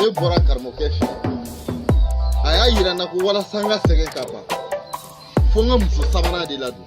ne bɔra karamɔgɔkɛ fɛ a y'a yira n na ko walasa n ka sɛgɛn ka ban fo n ka muso sabanan de ladon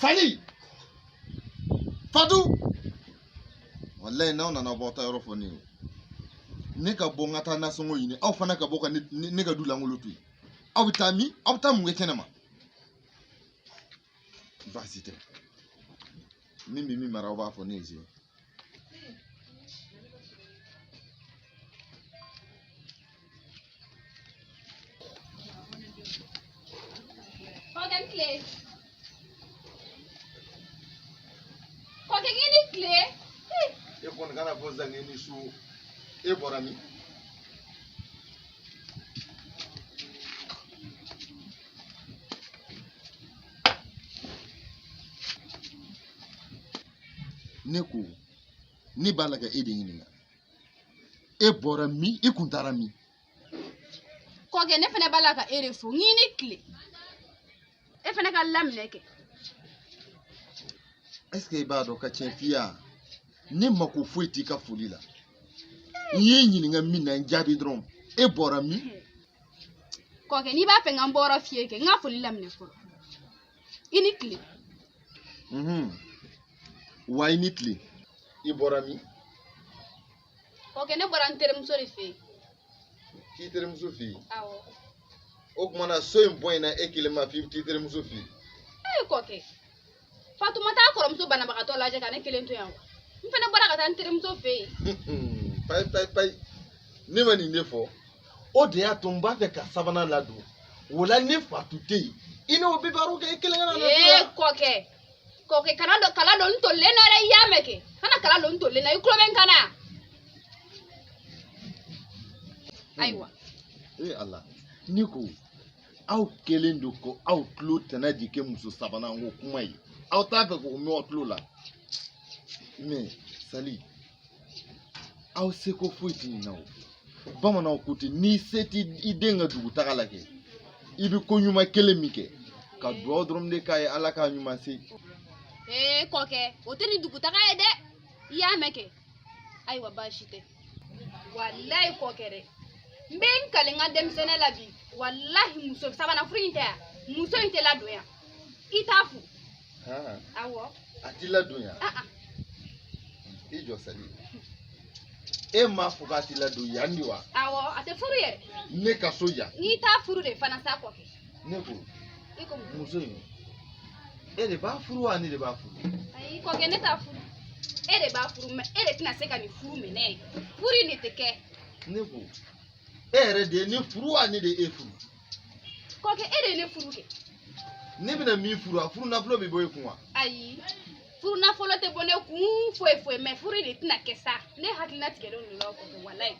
Sali Fatu walayi n'aw nana bɔ aw taa yɔrɔ fɔ ne ye ne ka bɔ n ka taa nasɔngɔ ɲini aw fana ka bɔ ka ne ka du lankolon to yen aw bɛ taa min aw bɛ taa mun kɛ kɛnɛma baasi tɛ min bɛ min mara aw b'a fɔ ne ye sisan kɔkɛ i ni tile e kɔni kana fɔ janko i ni su e bɔra min ne ko ne b'a la ka e de ɲininka e bɔra min i kun taara min kɔkɛ ne fana b'a la ka e de fo i ni tile e fana k'a laminɛ kɛ est ce que i b'a dɔn ka tiɲɛ f'i ye ne mako foyi t'i ka foli la n y'i ɲininka min na n jaabi dɔrɔn e bɔra min kɔkɛ n'i b'a fɛ n ka n bɔyɔrɔ f'i ye kɛ n ka foli laminɛ fɔlɔ i ni tile wa i ni tile i bɔra min kɔkɛ ne bɔra n terimuso de fɛ yen k'i terimuso fɛ yen awɔ o kuma na so in bonyana e kelen ma f'i bɛ t'i terimuso fɛ yen ee kɔkɛ fatu ma t'a kɔrɔmuso banabagatɔ lajɛ ka ne kelen to yan wa n fana bɔra ka taa n terimuso fɛ yen payi payi payi ne ma nin de fɔ o de y'a to n b'a fɛ ka sabanan ladon o la ni fatu tɛ yen i n'o bɛ baro kɛ i kelen kana na ee kɔkɛ kɔkɛ kana kala don n tolilen na dɛ i y'a mɛn kɛ kana kala don n tolilen na i tulo bɛ n kan na ayiwa ee ala ne ko aw kɛlen don ko aw tulo tɛna di kɛ muso sabanan ko kuma ye aw t'a fɛ k'o mɛn aw tulo la mais sali aw seko foyi tɛ nin na o bamananw ko ten n'i se t'i den ka dugutaga la kɛ i bɛ ko ɲuman kelen min kɛ ka dugawu dɔrɔn de k'a ye ala k'a ɲuman se. ee kɔkɛ o tɛ nin dugutaga ye dɛ i y'a mɛn kɛ. ayiwa baasi tɛ walayi kɔkɛ dɛ n bɛ n kali n ka denmisɛnnin la bi walahi muso sabanan furu in tɛ yan muso in tɛ ladon yan i t'a furu awɔ a ti ladon yan i jɔ sali e m'a fɔ k'a ti ladon yan de wa awɔ a tɛ furu yɛrɛ ne ka so yan i t'a furu de fana sa kɔkɛ ne ko i ko mun muso in e de b'a furu wa ne de b'a furu ayi kɔkɛ ne t'a furu e de b'a furu mais e de tɛna se ka nin furu minɛ furu in de tɛ kɛ ne ko e yɛrɛ de ye ne furu wa ne de ye e furu kɔkɛ e de ye ne furu kɛ ne bɛna min furu a furu nafolo bɛ bɔ e kun wa ayi furu nafolo tɛ bɔ ne kun foyi foyi mais furu in de tɛna kɛ sa ne hakilina tigɛlen don o la kɔkɛ walayi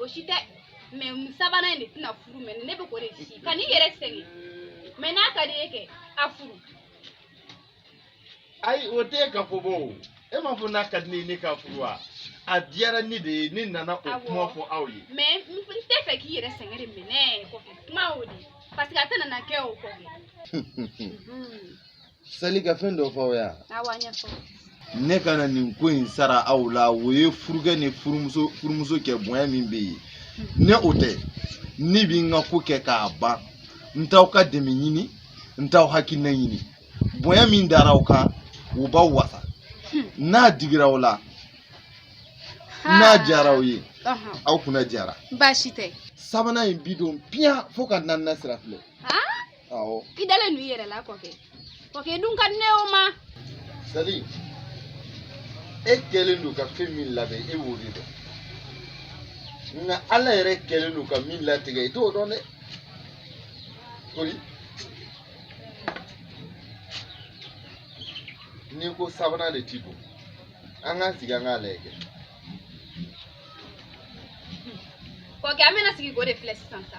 o si tɛ mais sabanan in de tɛna furu mais ne bɛ k'o de si kan'i yɛrɛ sɛgɛn mais n'a ka di e ye kɛ a furu ayi o tɛ ka fɔ bɔ o e m'a fɔ n'a ka di ne ye ne k'a furu wa a diyara ne de ye ne nana o kuma fɔ aw ye mais n t'a fɛ k'i yɛrɛ sɛgɛn de minɛ kɔkɛ kuma o de parce que a tɛna na kɛ o kɔkɛ Sali n ka fɛn dɔ fɔ aw ye ne ka na nin ko in sara aw la o ye furukɛ ni furumuso kɛ bonya min bɛ yen n'o tɛ ne bi n ka ko kɛ k'a ban n t'aw ka dɛmɛ ɲini n t'aw hakilina ɲini bonya min dara aw kan o b'aw wasa n'a digira aw la n'a diyara aw ye aw kunna diyara baasi tɛ sabanan in bi don piyan fo ka naaninan sira filɛ awɔ i dalen don i yɛrɛ la kɔkɛ kɔkɛ dun ka di ne ye o ma sali e kɛlen don ka fɛn min labɛn e b'o de dɔn nka ala yɛrɛ kɛlen don ka min latigɛ i t'o dɔn dɛ kori n'i ko sabanan de ti bɔ an k'an sigi an k'a lajɛ kɛ kɔkɛ an bɛna sigi k'o de filɛ sisan sa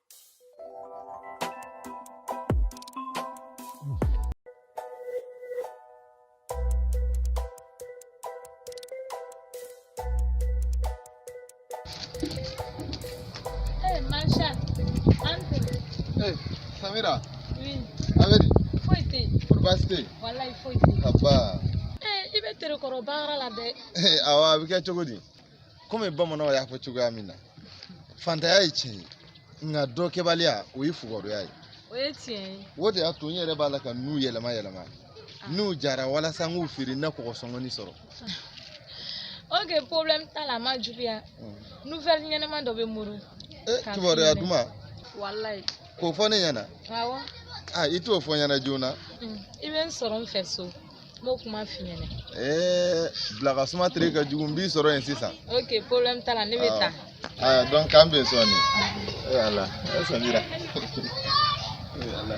Samira. Oui. A bɛ di. Foyi tɛ yen. Kori baasi tɛ yen. Walayi foyi tɛ yen. Aba. Ee i bɛ tere kɔrɔ baara la dɛ. Ee awa a bɛ kɛ cogo di. komi bamananw y'a fɔ cogoya min na fantanya ye tiɲɛ ye nka dɔ kɛbaliya o ye fugariya ye o ye tiɲɛ ye o de y'a to n yɛrɛ b'a la ka n'u yɛlɛma yɛlɛma n'u jara walasa n k'u feere n na kɔgɔ sɔngɔnin sɔrɔ ok problème t'a la a ma juguya mm. nouvelle ɲɛnama dɔ bɛ n bolo eh, kibaruya duman walayi k'o fɔ ne ɲɛna awɔ ah, i t'o fɔ n ɲɛna joona mm. i bɛ n sɔrɔ n fɛ so n b'o kuma f'i ɲɛna ee bilakasuma tere ka jugu n b'i sɔrɔ yen sisan ok problème t'a la ne bɛ taa aa donc k'an bɛn sɔɔni ee ala e samira ee ala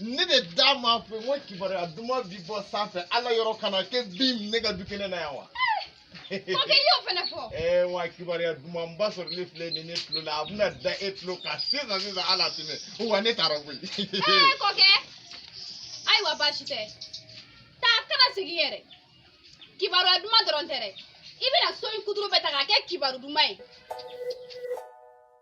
ne de da m'a fɔ n ko kibaruya duman bi bɔ sanfɛ ala yɔrɔ ka na ka bin ne ka du kɛnɛ na yan wa. kɔkɛ i y'o fana fɔ. ɛɛ wa kibaruya dumanba sɔrɔlen filɛ nin ne tulo la a bɛna da e tulo kan sisan sisan ala tɛmɛ wa ne taara koyi. ɛɛ kɔkɛ ayiwa baasi tɛ taa kana segin yɛrɛ kibaruya duman dɔrɔn tɛ dɛ i bɛna so in kuturu bɛɛ ta k'a kɛ kibaru duman ye.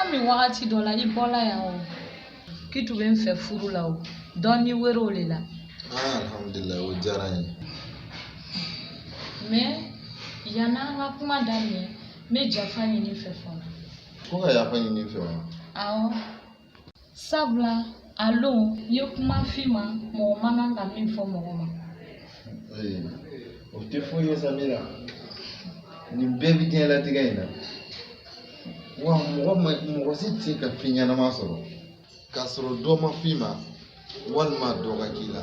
An bɛ wagati dɔ la i bɔla yan o k'i tun bɛ n fɛ furu la o dɔɔni wɛrɛw de la ah, alhamdulilayi o diyara n ye mais yanni an ka kuma daminɛ n bɛ jafa ɲini i fɛ fɔlɔ ko ka yafa ɲini n fɛ wa awɔ sabula a lon n ye kuma f'i ma mɔgɔ man kan ka min fɔ mɔgɔ ma o tɛ foyi ye samira nin bɛɛ bɛ diɲɛlatigɛ in na wa mɔgɔ si tɛ se ka fɛn ɲɛnama sɔrɔ k'a sɔrɔ dɔ ma f'i ma walima dɔ ka k'i la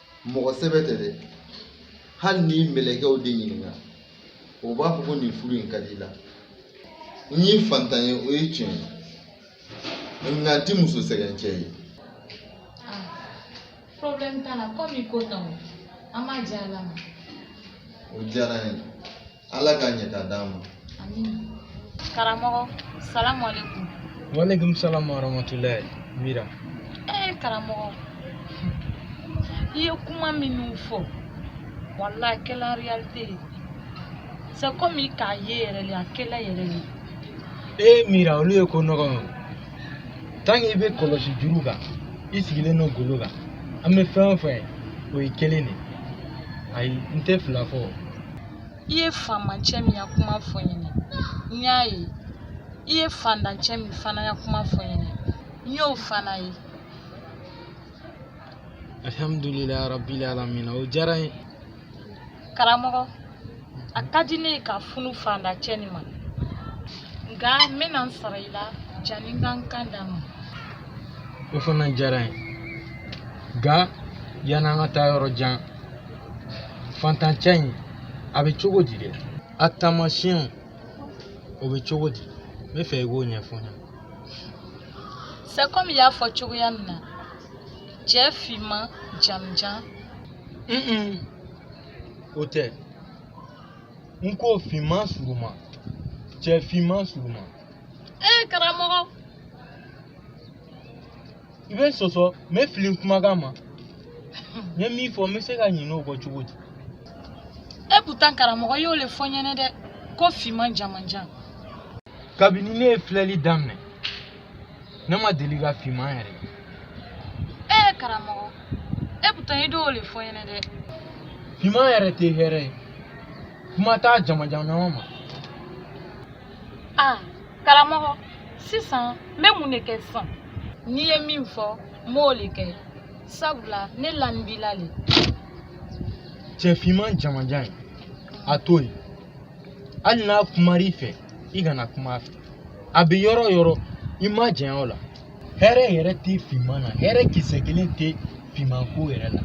mɔgɔ sɛbɛ tɛ dɛ hali n'i mɛlɛkɛw de ɲininka u b'a fɔ ko nin furu in ka dila n ye fantan ye o ye tiɲɛ ye nka n tɛ muso sɛgɛncɛ ye problème t'a la komi ko tan o an b'a di ala ma o diyara n ye ala ka ɲɛtaa d'an ma amin karamɔgɔ salamu aleykum waaleykum salamu warahmatulahi mira ee karamɔgɔ i ye kuma minnu fɔ walayi a kɛla réalité ye c'est comme i k'a ye yɛrɛ le a kɛla yɛrɛ le ee mira olu ye ko nɔgɔ ye tant que i bɛ kɔlɔsi juru kan i sigilen don golo kan an bɛ fɛn o fɛn o ye kelen de ye ayi n tɛ fila fɔ i ye faamacɛ min ya kuma fɔ n ɲɛna n y'a ye i ye fandancɛ min fana ya kuma fɔ n ɲɛna n y'o fana ye alhamdulilayi rabili alamina o diyara n ye karamɔgɔ a ka di ne ye ka furu fandancɛ nin ma nka n bɛna n sara i la jani n ka n kan d'a ma o fana diyara n ye nka yan'an ka taa yɔrɔ jan Fantancɛ in a bɛ cogo di dɛ a taamasiyɛnw o bɛ cogo di n bɛ fɛ i k'o ɲɛfɔ n ye sa kɔmi i y'a fɔ cogoya min na cɛ finman jamanjan o tɛ n ko finman suruma cɛ finman suruma ee karamɔgɔ i bɛ sɔsɔ n bɛ fili kumakan ma n ye min fɔ n bɛ se ka ɲinɛ o kɔ cogo di et pourtant karamɔgɔ y'o le fɔ n ɲɛna dɛ ko finman jamanjan kabini ne ye filɛli daminɛ ne ma deli ka finman yɛrɛ ye ee karamɔgɔ et pourtant i y'o le fɔ n ɲɛna dɛ finman yɛrɛ tɛ hɛrɛ ye kuma t'a jamanjan ɲɔgɔn ma ah karamɔgɔ sisan n bɛ mun de kɛ sisan n'i ye min fɔ n b'o le kɛ sabula ne lanin b'i la le cɛ finman jamanjan in a to yen hali n'a kumar'i fɛ i kana kuma a fɛ a bɛ yɔrɔ o yɔrɔ i majanya o la hɛrɛ yɛrɛ tɛ finman na hɛrɛ kisɛ kelen tɛ finman ko yɛrɛ la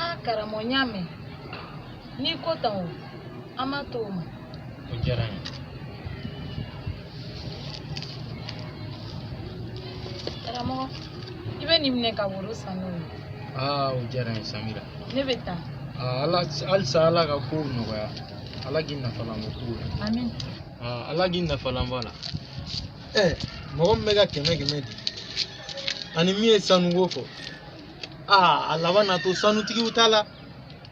a karamɔgɔ n y'a mɛn n'i ko tan o an b'a to o ma o diyara n ye karamɔgɔ i bɛ nin minɛ ka woro san n'o ye aa o diyara n ye samira ne bɛ taa aa ala halisa ala ka kow nɔgɔya ala k'i nafalan bɔ kow la amin aa ala k'i nafalan bɔ a la ɛ mɔgɔ min bɛ ka kɛmɛ kɛmɛ di ani min ye sanuko fɔ aa a laban na to sanutigiw ta la